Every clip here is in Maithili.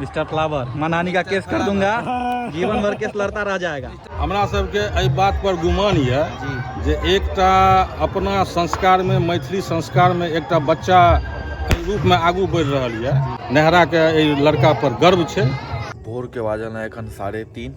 मिस्टर फ्लावर मैं नानी का केस कर दूंगा जीवन भर केस लड़ता रह जाएगा हमरा सबके एहि बात पर गुमान यऽ जी जे एकटा अपना संस्कारमे मैथिली संस्कारमे एकटा बच्चा एहि रूपमे आगू बढ़ि रहल यऽ नेहराके एहि लड़का पर गर्व छै भोरके बाजल हँ एखन साढ़े तीन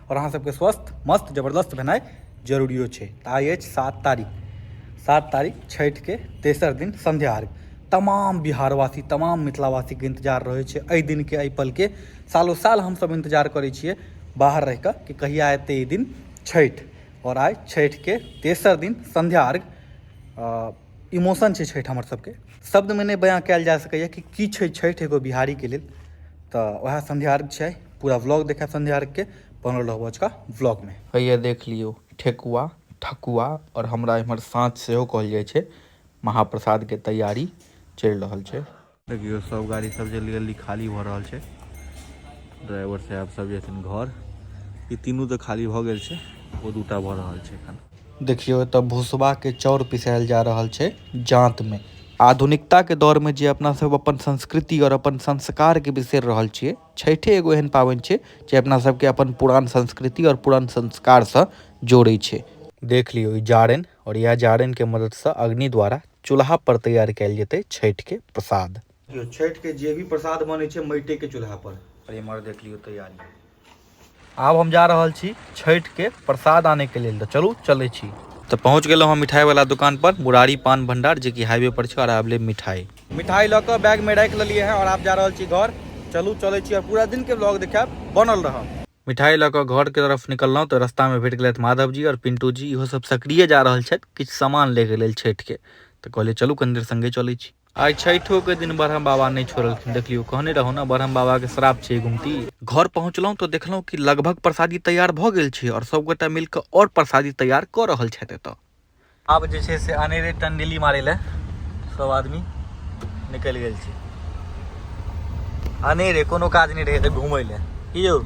आओर अहाँ सबके स्वस्थ मस्त जबरदस्त भेनाइ जरूरियो छै तऽ आइ अछि सात तारीख सात तारीख छठिके तेसर दिन संध्या अर्घ तमाम बिहारवासी तमाम मिथिलावासीके इन्तजार रहै छै एहि दिनके एहि पलके सालो साल हमसब इन्तजार करै छियै बाहर रहि कऽ कि कहिया एतै ई दिन छठि आओर आइ छठिके तेसर दिन संध्या अर्घ इमोशन छै छठि हमर सबके शब्दमे नहि बयाँ कयल जा सकैये कि की छै छठि एगो बिहारीके लेल तऽ वएह संध्या अर्घ छै पूरा व्लॉग देखब संध्या अर्घके बनल रहू अजुका व्लॉगमे हैया देख लियौ ठेकुआ ठकुआ आओर हमरा एम्हर साँच सेहो कहल जाइ छै महाप्रसादके तैयारी चलि रहल छै देखियौ सब गाड़ी सब जल्दी जल्दी खाली भऽ रहल छै ड्राइवर साहब सब जेथिन घर ई तीनू तऽ खाली भऽ गेल छै ओ दूटा भऽ रहल छै एखन देखियौ एतऽ भुसबाके चाउर पिसायल जा रहल छै जाँतमे आधुनिकताके दौरमे जे अपना सब अपन संस्कृति आओर अपन संस्कारके बिसरि रहल छियै छठे एगो एहन पाबनि छै जे अपना सबके अपन पुरान संस्कृति आओर पुरान संस्कारसँ जोड़ै छै देख लियौ ई जारनि और यह जारन के मदद से अग्नि द्वारा चूल्हा पर तैयार कैल जेते छठ के प्रसाद यो छठ के जे भी प्रसाद बने छे मैटे के चूल्हा पर और इमर देख लियो तैयारी आब हम जा रहल छी छठ के प्रसाद आने के लिए तो चलू चले छी तो पहुंच गए हम मिठाई वाला दुकान पर मुरारी पान भंडार जे की हाईवे पर छे और आब ले मिठाई मिठाई लऽ के बैग में रख लिए हैं और आप जा रहल छी घर चलू चले छी और पूरा दिन के ब्लॉग देखाब बनल रहब मिठाइ लऽ कऽ घरके तरफ निकललहुँ तऽ रस्तामे भेट गेलथि माधव जी आओर पिन्टू जी इहो सब सक्रिय जा रहल छथि किछु सामान लैके लेल छठिके तऽ कहलियै चलू कनी देर सङ्गे चलै छी आइ छठिओके दिन ब्रह्म बाबा नहि छोड़लखिन देखलियौ कहने रहौ ने ब्रह्म बाबाके श्राप छै गुमती घर पहुँचलहुँ तऽ देखलहुँ कि लगभग प्रसादी तैयार भऽ गेल छै आओर सभगोटा मिलि कऽ आओर प्रसादी तैयार कऽ रहल छथि एतय आब जे छै से अनेरे टंडेली मारै लए सब आदमी निकलि गेल छै अनेरे कोनो काज नहि रहै तऽ घूमै लए की यौ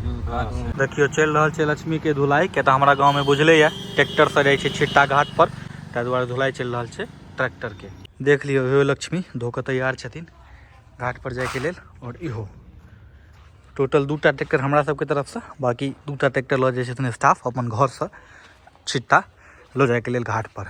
देखियौ चलि रहल छै लक्ष्मीके धुलाई किया तऽ हमरा गाँवमे बुझले यऽ ट्रैक्टरसँ जाइ छै छिट्टा घाट पर ताहि दुआरे धुलाई चलि रहल छै ट्रैक्टरके देख लियौ हे लक्ष्मी धोकऽ तैयार छथिन घाट पर जायके लेल आओर इहो टोटल दूटा ट्रैक्टर हमरा सबके तरफसँ बाकी दूटा ट्रैक्टर लऽ जाइ छथिन स्टाफ अपन घरसँ छिट्टा लऽ जायके लेल घाट पर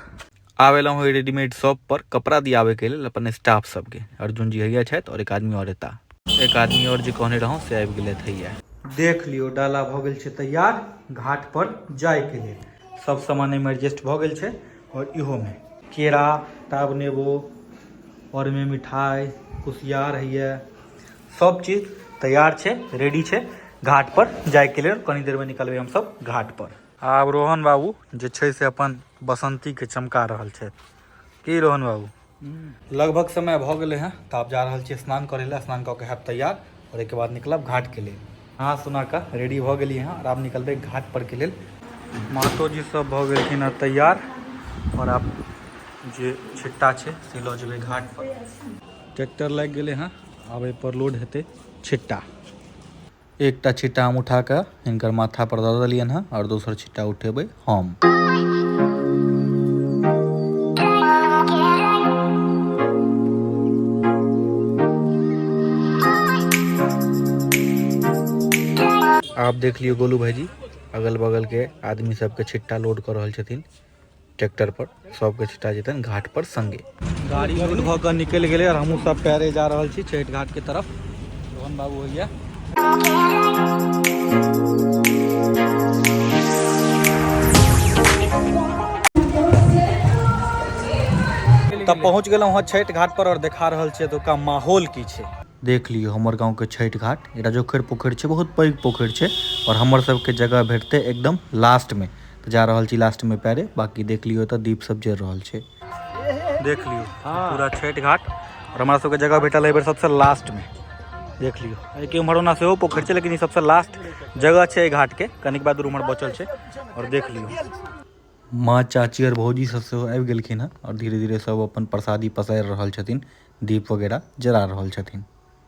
आब एलहुँ हँ रेडीमेड शॉप पर कपड़ा दियाबैके लेल अपन स्टाफ सबके अर्जुन जी हैया छथि और एक आदमी और एता एक आदमी और जे कहने रहूँ से आबि गेलथि हैया देख लियो डाला भऽ गेल छै तैयार घाट पर जायके लेल सब सामान एहिमे एडजस्ट भऽ गेल छै और इहोमे केरा टाब नेबो और एहिमे मिठाई कुशियार हैया सब चीज तैयार छै रेडी छै घाट पर जायके लेल कनी देरमे निकलबै हमसब घाट पर आब रोहन बाबू जे छै से अपन बसंतीके चमका रहल छथि की रोहन बाबू हम्म। लगभग समय भऽ गेलै हँ तऽ आब जा रहल छियै स्नान करै लए स्नान कऽ के हैब तैयार आओर एहिके बाद निकलब घाटके लेल नहा सुना कऽ रेडी भऽ गेलियै हँ आओर आब निकलबै घाटपरके लेल मातोजी सब भऽ गेलखिन हँ तैयार आओर आब जे छिट्टा छै से लऽ जेबै घाटपर ट्रैक्टर लागि गेलै हँ आब एहिपर लोड हेतै छिट्टा एकटा छिट्टा हम उठा कऽ हिनकर माथा पर दऽ देलियनि हँ आओर दोसर छिट्टा उठेबै हम आप देख लियो गोलू भाईजी अगल बगल के आदमी सबके छिट्टा लोड कर रहल छथिन ट्रैक्टर पर सबके छिटा जेतन घाट पर संगे गाड़ी लोड भऽ कऽ निकलि गेलै आओर हमहूँ सब पैरे जा रहल छी छठि घाटके तरफ रोहन बाबू होइए तब पहुँच गेलहुँ हँ छठि घाट पर और देखा रहल छियै एतुका माहौल की छै देख लियौ हमर गाँव के छठि घाट एकटा जोखर पोखरि छै बहुत पैघ पोखरि छै और हमर सबके जगह भेटतै एकदम लास्ट में तऽ जा रहल छी लास्टमे पैरे बाकी देख लियौ तऽ दीप सब जरि रहल छै देख लियौ पूरा छठि घाट आओर हमरा सबके जगह भेटल एहि बेर सबसँ लास्टमे देख लियौ एहिके उम्हर ओना सेहो पोखरि छै लेकिन ई सबसँ लास्ट जगह छै एहि घाटके कनिक बाद उम्हर बचल छै आओर देख लियौ माँ चाची आओर भौजी सब सेहो आबि गेलखिन हँ आओर धीरे धीरे सब अपन प्रसादी पसारि रहल छथिन दीप वगैरह जरा रहल छथिन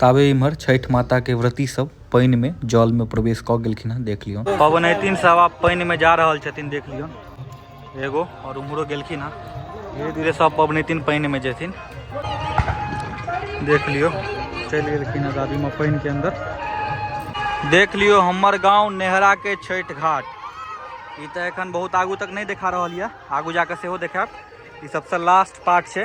ताबे इम्हर छठि माता के व्रती सब पानि में जल में प्रवेश क गेलखिन हैं देख लियो पवनैतिन सब आप पानि में जा रहल छथिन देख लियो एगो और उम्हरो गेलखिन हैं धीरे धीरे सब पवनैतिन पानि में जेथिन देख लियो चलि गेलखिन हैं दादी माँ पानि के अंदर देख लियो हमर गांव नेहरा के छठि घाट ई तो एखन बहुत आगू तक नहीं देखा रहल यऽ आगू जाकर सेहो देखायब ई सबसे लास्ट पार्ट छै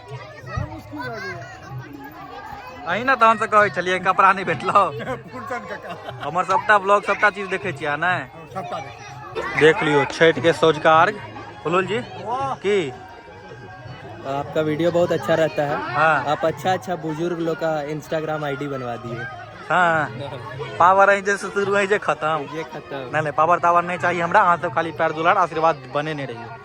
अही ने तहन से कहै छलियै कपड़ा नहि भेटलौ फुलचन काका हमर सबटा ब्लॉग सबटा चीज देखै छियै ने हम सबटा देखै छी। देख लियो छठ के सौजका अर्घ फुलुल जी की आपका वीडियो बहुत अच्छा रहता है हाँ आप अच्छा अच्छा बुजुर्ग लोग का इंस्टाग्राम आईडी बनवा दिए हाँ पावर अहीं जे शुरू अहीं जे खत्म ये खत्म नहीं नहीं पावर तावर नहीं चाहिए हमरा अहाँ सब खाली पैर दुलार आशीर्वाद बने नहीं रहिए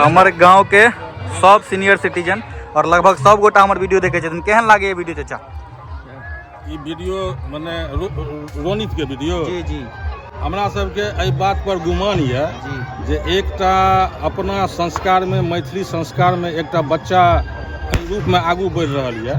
हमर गाँव के सब सीनियर सिटीजन और लगभग सब गोटा हमर वीडियो देखे छथिन केहन लागे ये वीडियो चाचा ई वीडियो मने रो- रो- रोनित के वीडियो जी जी हमरा सबके एहि बात पर गुमान यऽ जी जे एकटा अपना संस्कारमे मैथिली संस्कारमे एकटा बच्चा एहि रूपमे आगू बढ़ि रहल यऽ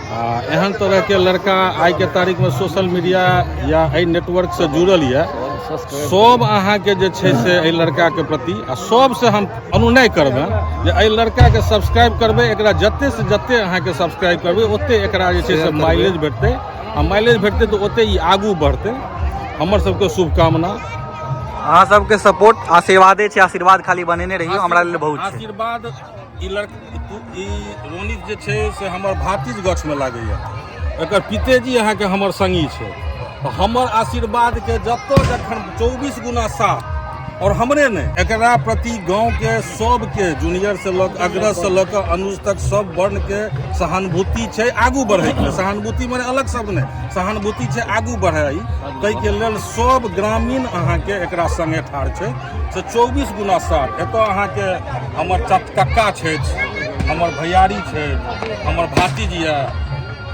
आ एहन तरहके लड़का आइके तारीखमे सोशल मीडिया या एहि नेटवर्कसँ जुड़ल यए सभ अहाँके जे छै से एहि लड़काके प्रति आ सभसँ हम अनुनय करबै जे एहि लड़काके सब्सक्राइब करबै एकरा जतेसँ जते अहाँके सब्सक्राइब करबै ओते एकरा जे छै से माइलेज भेटतै आ माइलेज भेटतै तऽ ओते ई आगू बढ़तै हमर सभके शुभकामना अहाँ सबके सपोर्ट आशीर्वादे छै आशीर्वाद खाली बनेने रहियौ हमरा लेल बहुत छै आशीर्वाद ई लड़क ई रोनित जे छै से हमर भातिज गछमे लागैए एकर पितेजी अहाँके हमर संगी छै तऽ हमर आशीर्वादके जतऽ जखन चौबीस गुना साथ और हमरे ने एकरा प्रति गांव के सबके जूनियर से लऽ कऽ अग्रज से लऽ कऽ अनुज तक सब वर्ण के सहानुभूति छै आगू बढ़े के सहानुभूति माने अलग शब्द नहि सहानुभूति छै आगू बढ़े ताहि के लेल सब ग्रामीण अहाँ के एकरा संगे ठाढ़ छै से चौबीस गुना सात एतऽ अहाँके हमर कक्का छथि हमर भैयारी छथि हमर भातीजी यऽ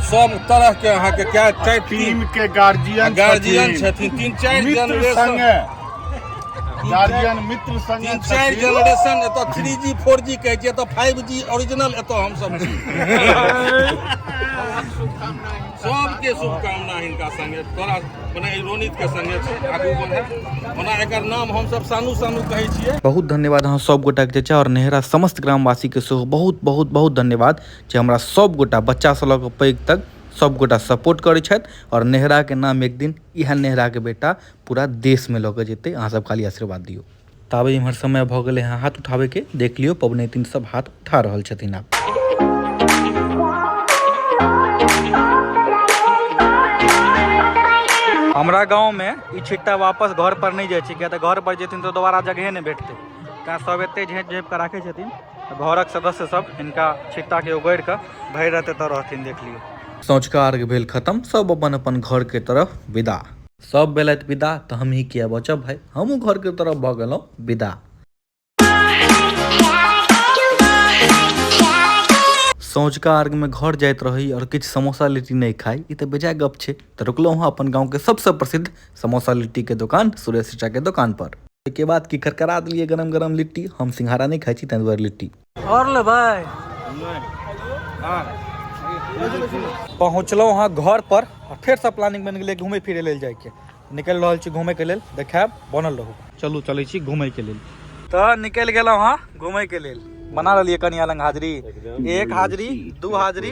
सब तरह के अहाँ के क्या चाहे टीम के गार्जियन गार्जियन छथिन तीन चारि जनरेशन गार्जियन मित्र संग तीन चारि जनरेशन एतऽ थ्री जी फोर जी कहै छियै एतऽ फाइव जी ओरिजिनल एतऽ हमसब छी सबके शुभकामना हिनका संगे तोरा मने रोनित के संगे छै आगू बढ़े ओना एकर नाम हम सब सानू सानू कहै छियै बहुत धन्यवाद अहाँ सब गोटा के चाचा और नेहरा समस्त ग्रामवासी के सेहो बहुत बहुत बहुत धन्यवाद जे हमरा सब गोटा बच्चा से लऽ के पैघ तक सब गोटा सपोर्ट करै छथि और नेहरा के नाम एक दिन इहे नेहरा के बेटा पूरा देश में लऽ के जेतै अहाँ सब खाली आशीर्वाद दियौ ताबे इम्हर समय भऽ गेलै हँ हाथ उठाबैके देख लियौ पबनैतिन सब हाथ उठा रहल छथिन आब हमरा गाँवमे ई छिट्टा वापस घर पर नहि जाइ छै किया तऽ घर पर जेथिन तऽ दोबारा जगहे नहि भेटतै तैँ सब एते झाँपि झाँपि कऽ राखै छथिन घरक सदस्य सब हिनका छिट्टाके उगड़ि कऽ भरि राति एतऽ रहथिन देख लियौ सँझुका अर्घ भेल खतम सब अपन अपन घरके तरफ विदा सब भेलथि विदा तऽ हमही किया बचब भाय हमहूँ घरके तरफ भऽ गेलहुँ विदा सौझका अर्घमे घर जाइत रही आओर किछु समोसा लिट्टी नहि खाइ ई तऽ बेजाय गप छै तऽ रुकलहुँ हँ अपन गाँवके सबसँ प्रसिद्ध समोसा लिट्टीके दोकान सुरेश चचाके दोकानपर ओहिके बाद की करकरा देलियै गरम गरम लिट्टी हम सिंघारा नहि खाइ छी ताहि दुआरे लिट्टी और ले भाई पहुँचलहुँ अहाँ घर पर फेर से प्लानिंग बन गए घूमे फिरे लेल जाके निकल रहा छी घूमे के लेल देखायब बनल रहू चलू चले घूमे के लेल तो निकल गए हाँ घूमे के लेल बना रही कनिया लंग हाजरी एक हाजरी दू हाजरी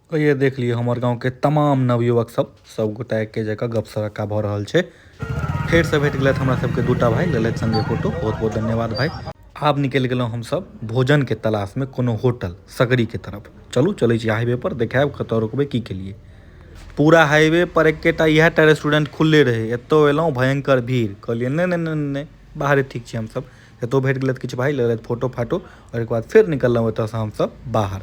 कहिये देख लियो हमर गांव के तमाम नवयुवक सब सब गोटा एके जगह गप सरक्का भ रहल छै फेर से भेट गेलत हमरा सब के दूटा भाई लेलत संगे फोटो बहुत बहुत धन्यवाद भाई आब निकल गेलो हम सब भोजन के तलाश में कोनो होटल सगरी के तरफ चलू चले छी हाईवे पर देखाब कत रुकबे की के लिए पूरा हाईवे पर एकेटा इहा टा रेस्टोरेंट खुलले रहे एतो एलो भयंकर भीड़ कहलिए ने ने ने बाहर ठीक छी हम सब एतौ भेट गेलथि किछु भाई लेलथि फोटो फाटो और एक बाद फिर निकललहुँ एतऽसँ हमसब बाहर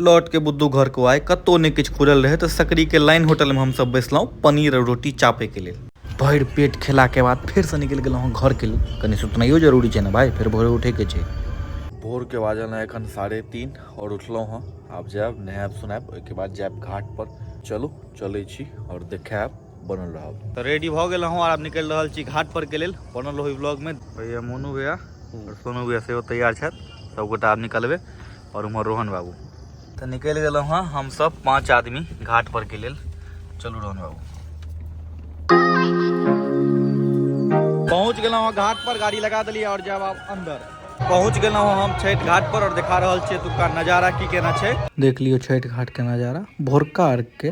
लौट के बुद्धू घर को आए कतौ नहि किछु खुलल रहै तऽ सकरी के लाइन होटल में हमसब बैसलहुँ पनीर और रोटी चापे के लेल भरि पेट खेला के बाद फिर से निकलि गेलहुँ घर के लेल कनी सुतनाइयो जरूरी छै ने भाई फिर भोरे उठे के छै भोर के बाजल है एखन साढ़े तीन और उठलहुँ हँ आब जायब नहायब सुनायब ओहिके बाद जायब घाट पर चलू चलै छी और देखायब बनल रहब तऽ रेडी भऽ गेल हूँ आब निकलि रहल छी घाट पर के लेल बनल रहू ब्लॉग में भैया मोनू भैया और सोनू भैया सेहो तैयार छथि सबगोटा आब निकलबै और उम्हर रोहन बाबू तऽ निकलि गेलहुँ हँ हमसभ पाँच आदमी घाट पर के लेल चलू रोहन बाबू पहुँच गेलहुँ हँ घाट पर गाड़ी लगा देलियै और जायब आब अंदर पहुँच गेलहुँ हँ हम छठि घाट पर और देखा रहल छियै एतुका नजारा की केना छै देख लियौ छठि घाट के नजारा भोरका अर्घ के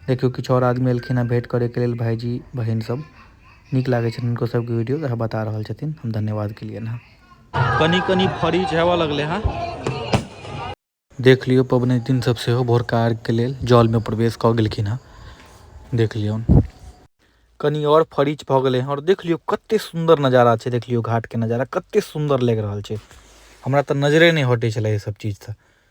देखियौ किछु आओर आदमी एलखिन हँ भेट करे के लेल भाईजी बहिन सब नीक लागे छथिन हुनको सबके वीडियो तऽ बता रहल छथिन हम धन्यवाद के लिए हँ कनी कनी फरी जावा लगले हँ देख लियो पबने दिन सब से हो भोर कार के लेल जल में प्रवेश क गेलखिन हँ देख लियो कनी और फरीच भ गेले हँ और देख लियो कते सुंदर नजारा छै देख लियो घाट के नजारा कते सुंदर लग रहल छै हमरा तऽ नजरे नहि हटे छले ई सब चीज तऽ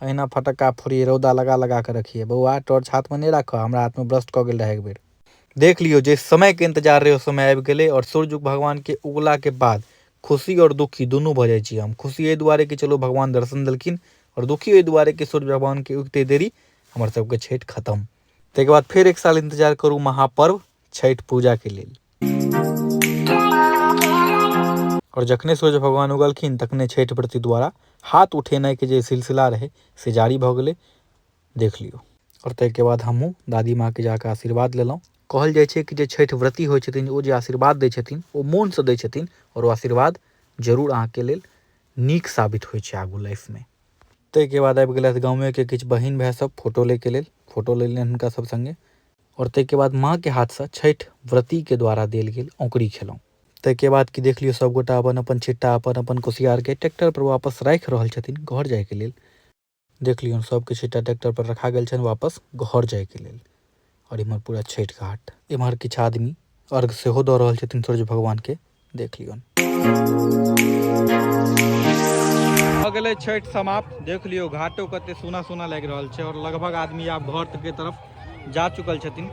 अहिना फटक्का फोड़ियै। रौदा लगा-लगा कऽ रखियै। बौआ, टॉर्च हाथमे नहि राखह। हमरा हाथमे ब्रस्ट कऽ गेल रहए एक बेर। देख लियौ, जइ समयक इंतजार रहै ओ समय आबि गेलै आओर सूर्य उग भगवानकेँ उगलाक बाद खुशी आओर दुखी दुनू भऽ जाइ छी हम। खुशी एहि दुआरे कि चलू भगवान दर्शन देलखिन आओर दुखी एहि दुआरे कि सूर्य भगवानकेँ उगिते देरी हमर सभक छठि खतम। तइक बाद फेर एक साल इंतजार करू महापर्व। छठि पूजाके लेल आओर जखने सूर्य भगवान उगलखिन तखने छठि व्रती द्वारा हाथ उठेनाइके जे सिलसिला रहै से जारी भऽ गेलै देख लियौ आओर ताहिके बाद हमहूँ दादी माँके जाकऽ आशीर्वाद लेलहुँ कहल जाइ छै कि जे छठि व्रती होइ छथिन ओ जे आशीर्वाद दै छथिन ओ मोनसँ दै छथिन आओर ओ आशीर्वाद जरूर अहाँके लेल नीक साबित होइ छै आगू लाइफमे ताहिके बाद आबि गेलथि गाँवेके किछु बहिन भाय सब फोटो लैके लेल फोटो लेलनि हुनका सब सङ्गे आओर ताहिके बाद माँके हाथसँ छठि व्रतीके द्वारा देल गेल औकड़ी खेलहुँ ताहिके बाद कि देख लियौ सभगोटा अपन अपन छिट्टा अपन अपन कुसियारके ट्रैक्टरपर वापस राखि रहल छथिन घर जायके लेल देख लियौन सभके छिट्टा ट्रैक्टरपर रखा गेल छनि वापस घर जायके लेल आओर इम्हर पूरा छठि घाट इम्हर किछु आदमी अर्घ सेहो दऽ रहल छथिन सूर्य भगवानके देख लियौन भऽ गेलै छठि समाप्त देख लियौ घाटो कते सुना सुना लागि रहल छै और लगभग आदमी आब घर के तरफ जा चुकल छथिन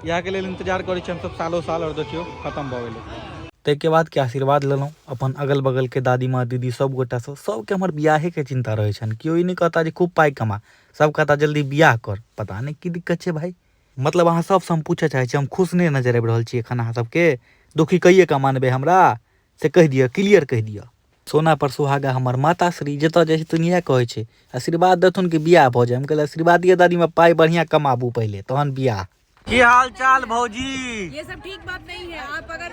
इएहके लेल इंतजार करै छी हमसभ सालो साल और देखियौ खत्म भऽ गेलै ताहिके बाद के आशीर्वाद लेलहुँ अपन अगल बगल के दादी माँ दीदी सब गोटा से सबके हमर बियाहे के चिंता रहै छनि केओ ई नहि कहता जे खूब पाइ कमा सब कहता जल्दी बियाह कर पता नहि की दिक्कत छै भाई मतलब अहाँ सबसँ हम पूछऽ चाहै छी हम खुश नहि नजरि आबि रहल छी एखन अहाँ सबके दुखी कहिए कऽ मानबै हमरा से कहि दिअ क्लियर कहि दिअ सोना पर सुहागा हमर माता श्री जतऽ जाइ छथिन इएह कहै छै आशीर्वाद देथुन कि बियाह भऽ जाय हम कहलियै आशीर्वादिये दादीमे पाइ बढ़िआँ कमाबू पहिले तहन बियाह की हाल चाल भौजी ये सब ठीक बात नहीं है आप अगर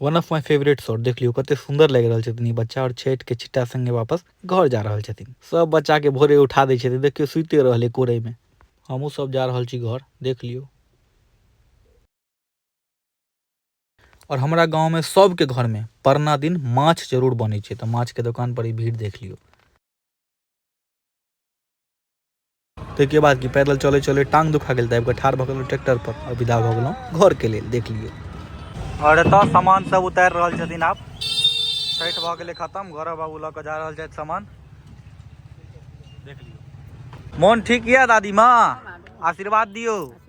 one of my favourite shot देख लियो कते सुंदर लग रहल छथिन ई बच्चा और छठ के छिट्टा संगे वापस घर जा रहल छथिन सब बच्चा के भोरे उठा दे छथिन देखियो सुते रहले कोरे में हमहू सब जा रहल छी घर देख लियो और हमारा गांव में सबके घर में परना दिन माछ जरूर बने तो माछ के दुकान पर ही भीड़ देख लियो ताहिके बाद कि पैदल चलैत चलैत टाँग दुखा गेल तऽ आबि कऽ ठाढ़ भऽ गेलहुँ ट्रैक्टरपर आ विदा भऽ गेलहुँ घरके लेल देख लियौ आओर एतय सामान सब उतारि रहल छथिन आब छठि भऽ गेलै खतम घरक बाबू लऽ कऽ जा रहल छथि सामान देख लियौ मोन ठीक यऽ दादी माँ आशीर्वाद दियौ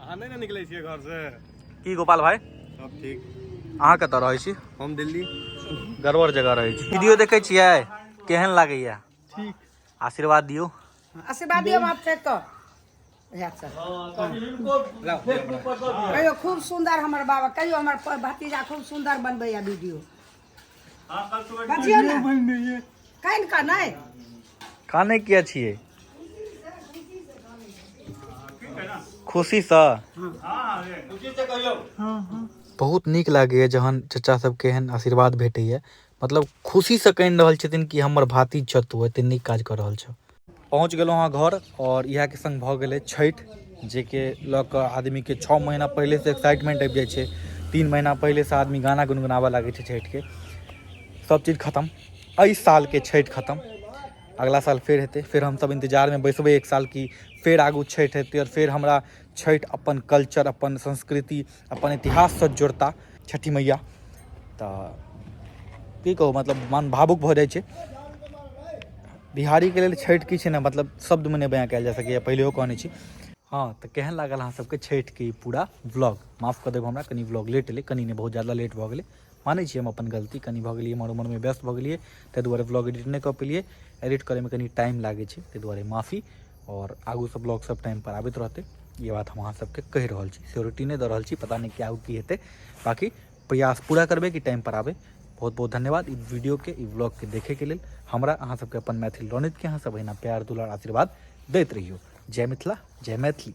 अहाँ नहि ने निकलै छियै घर से की गोपाल भाई सब ठीक अहाँ कतऽ रहै छी हम दिल्ली गड़बड़ जगह रहै छी वीडियो देखै छियै केहन लागैया ठीक आशीर्वाद दियौ आशीर्वाद दियौ माफ फेर तो कहियो खूब सुंदर हमर बाबा कहियो हमर भतीजा खूब सुंदर बनबैया वीडियो बजियौ ने कानि कऽ नहि कानै किया छियै खुशीसँ बहुत नीक लागैए जहन चचा सबके एहन आशीर्वाद भेटैए मतलब खुशीसँ कहि रहल छथिन कि हमर भातिज छह तू एते नीक काज कऽ रहल छह पहुँच गेलहुँ हँ घर आओर इएहके सङ्ग भऽ गेलै छठि जाहिके लऽ कऽ आदमीके छओ महीना पहिलेसँ एक्साइटमेंट आबि जाइ छै तीन महीना पहिलेसँ आदमी गाना गुनगुनाबय लागै छै छठिके सभचीज खतम एहि सालके छठि खतम अगिला साल फेर हेतै फेर हमसभ इन्तजारमे बैसबै एक साल कि फेर आगू छठि हेतै आओर फेर हमरा छठि अपन कल्चर अपन संस्कृति अपन इतिहाससँ जोड़ता छठी मैया तऽ की कहू मतलब मन भावुक भऽ जाइ छै बिहारीके लेल छठि की छै ने मतलब शब्दमे नहि बयाँ कयल जा सकैए पहिलेहो कहने छी हँ तऽ केहन लागल अहाँ सबके छठिके ई पूरा ब्लॉग माफ कऽ देब हमरा कनि ब्लॉग लेट एलै कनि नहि बहुत ज्यादा लेट भऽ गेलै मानै छी हम अपन गलती कनि भऽ गेलियै एम्हर उम्हरमे व्यस्त भऽ गेलियै ताहि दुआरे ब्लॉग एडिट नहि कऽ पेलियै एडिट करैमे कनि टाइम लागै छै ताहि दुआरे माफी आओर आगूसँ ब्लॉग सब टाइमपर आबैत रहतै ई बात हम अहाँ सबके कहि रहल छी सियोरिटी नहि दऽ रहल छी पता नहि कि आगू की हेतै बाकी प्रयास पूरा करबै कि टाइमपर आबै बहुत बहुत धन्यवाद ई वीडियोके ई ब्लॉगके देखैके लेल हमरा अहाँ सबके अपन मैथिल रणितके अहाँ सब अहिना प्यार दुलार आशीर्वाद दैत रहियौ जय मिथिला जय मैथिली